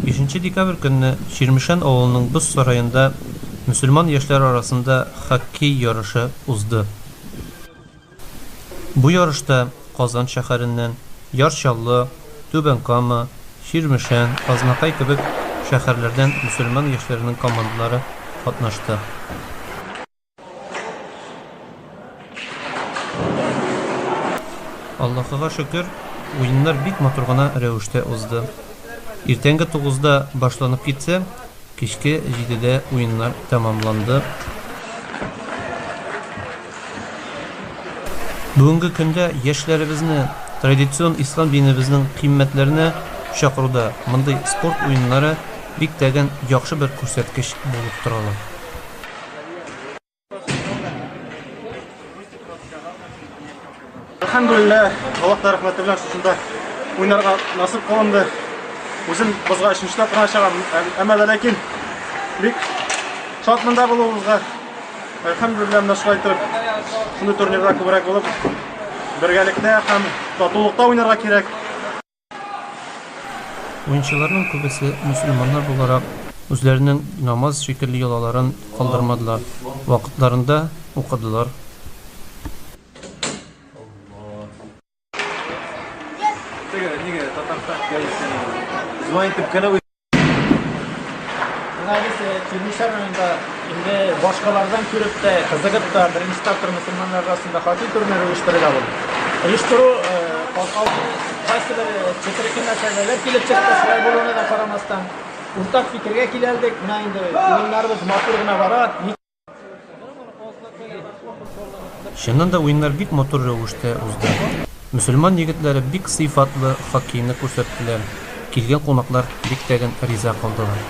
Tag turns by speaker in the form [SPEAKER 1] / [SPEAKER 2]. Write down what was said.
[SPEAKER 1] Бишенче декабрь көнне Чирмешән авылының боз сараенда мөселман яшьләр арасында хоккей ярышы узды. Бу ярышта Казан шәһәреннән, Яр Чаллы, Түбән Кама, Чирмешән, Азнакай кебек шәһәрләрдән мөселман яшьләренең командалары катнашты. Аллахыга шөкер, уеннар бик матур гына рәвештә узды. Иртәнге тугызда башланып китсә, кичке җидедә уеннар тәмамланды. Бүгенге көндә яшьләребезне традицион ислам динебезнең кыйммәтләренә чакыруда мондый спорт уеннары бик тә гән яхшы бер күрсәткеч булып торалар.
[SPEAKER 2] Әлхәмдулилла, Аллаһ та рәхмәте белән шушында уйнарга насып кылынды. Үзем бозга өченче тапкыр чыгам. Әмма дә ләкин бик шат монда булуыбызга әлхәмдулилла менә шулай итеп шундый турнирда күбрәк булып бергәлектә һәм татулыкта уйнарга кирәк.
[SPEAKER 1] Уенчыларның күбесе мөселманнар буларак, үзләренең намаз шикелле йолаларын калдырмадылар, вакытларында укыдылар.
[SPEAKER 3] Гәзис Тюнисар районында инде башкалардан күреп тә, кызыгып та, беренче тапкыр мөселманнар арасында хатин турниры оештырыла бу. Оештыру калкалды, кайсы бер четерекле мәсьәләләр килеп чыкты, шулай булуына да карамастан, уртак фикергә киләлдек, менә инде уеннарыбыз матур гына бара.
[SPEAKER 1] Чыннан да уеннар бик матур рәвештә узды. Мөселман егетләре бик сыйфатлы хоккейны күрсәттеләр, килгән кунаклар бик тә риза калдылар.